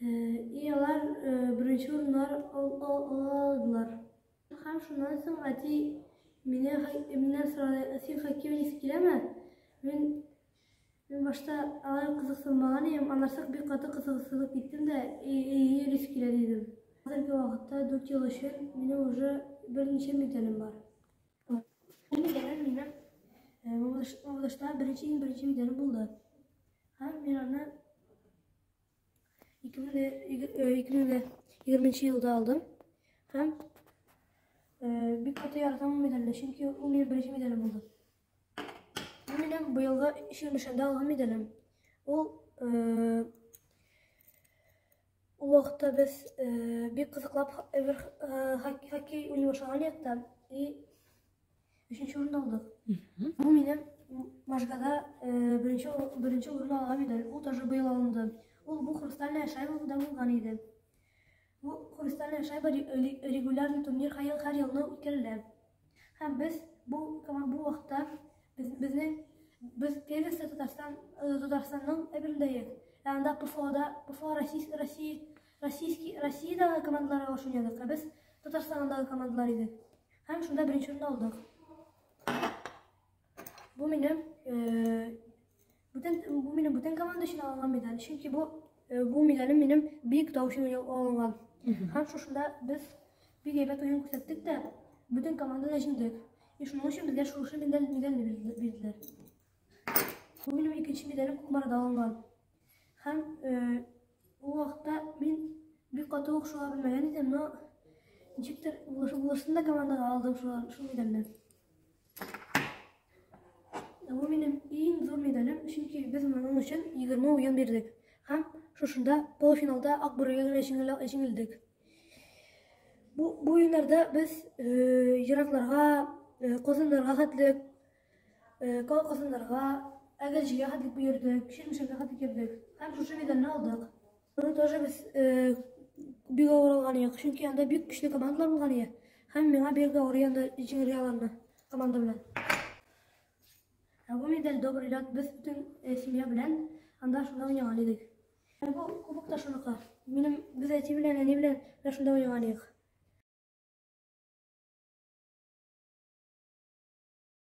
И алар беренче урыннар алдылар. Һәм шуннан соң әти мине миннән сорады, син хоккей уйныйсы киләме? Мин мин башта алай кызыксынмаган идем, аннан соң бик каты кызыксынып киттем дә, әйе, йөрис килә дидем. Хәзерге вакытта дүрт ел өчен минем уже берничә медалем бар. Бу видеодан минем Мамадышта беренче иң беренче видео булды. Һәм мин аны 2020 елда алдым. Һәм бик каты яратам ул медальне, чөнки ул минем беренче медалем булды. Бу минем быелгы ишек нишанда алган медалем. Ул Ул вакытта без э, бик кызыклап эвер э, хок- хоккей уйный башлаган идек та и өченче урын алдык. Бу минем м- Можгада э, беренче ур- беренче урын алган медаль. Ул тоже быел алынды. Ул бу хрустальная шайба да булган иде. Бу хрустальная шайба ре- ре- регулярный турнир һәр ел һәр елны үткәрелә. Һәм без бу бу вакытта без безне без первенство Татарстан э, Татарстанның әберендә ек. Ә анда ПФОда ПФО Россия Россия Российский Россиядагы командаларга каршы уйнадык. Ә без Татарстандагы командалар идек. Һәм шунда беренче урынны алдык. Бу минем э, Бүтән бу минем бүтән команда өчен алынган медаль, чөнки бу э, бу медалем минем бик тау өчен алынган. Һәм шушында без бик әйбәт уен күрсәттек тә, бүтән команда да җиңдек. И шуның өчен безгә шушы медаль медаль бирделәр. Бу минем икенче медалем Кукмарада алынган. Һәм э, ул вакытта мин бик каты ук шуга белмәгән идем, но ничектер булышында командага алдым шул медальне. Бу минем иң зур медалем, чөнки без моның өчен 20 уен бирдек. Һәм шушында полуфиналда Акбүрегә генә җиңелдек. Бу бу уеннарда без еракларга, Казаннарга хәтле, Казаннарга, Әгерҗегә хәтле йөрдек, Чирмешәнгә хәтле йөрдек. Һәм шушы медальне алдык. Аны тоже без э, бик авыр алган идек, чөнки анда бик көчле командалар булган иде. Һәм миңа бик авыр янда җиңергә алынды команда белән. Ә бу медаль добрый ряд без бөтен э, семья белән анда шунда уйнаган идек. Ә бу кубок та шуныкы. Минем без әти белән әни белән менә шунда уйнаган идек.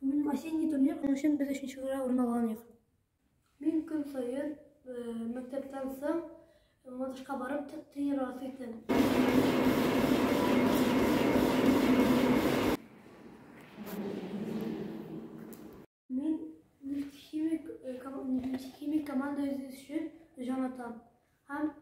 Бүген осенний турнир өчен без өченче урынга урын алган идек. Мин көн саен мәктәптән соң матушка барып тренироваться иттем. Мин нефтехимик нефтехимик команда өчен җан атам. Һәм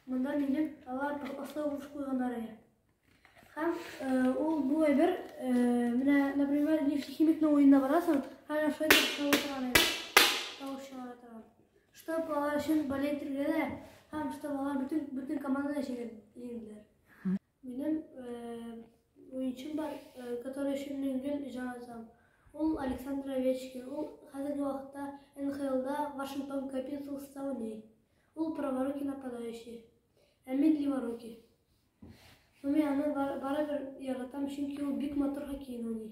монда минем алар оста уңыш куйганнары. Һәм ул бу әйбер, менә, например, нефтехимикның уенда барасың, һәм менә шулай итеп тавыш чыгара торган. Тавыш чыгара торган. Штаб алар өчен болеть тергәлә, һәм штаб алар бөтен, бөтен команданы җиңделәр. Минем уенчым бар, который өчен мин гел җан атам. Ул Александр Овечкин, ул хәзерге вакытта НХЛда Вашингтон Капиталста уйный. Ул праворукий нападающий, ә мин леворукий. Но мин аны барыбер яратам, чөнки ул бик матур хоккей уйный.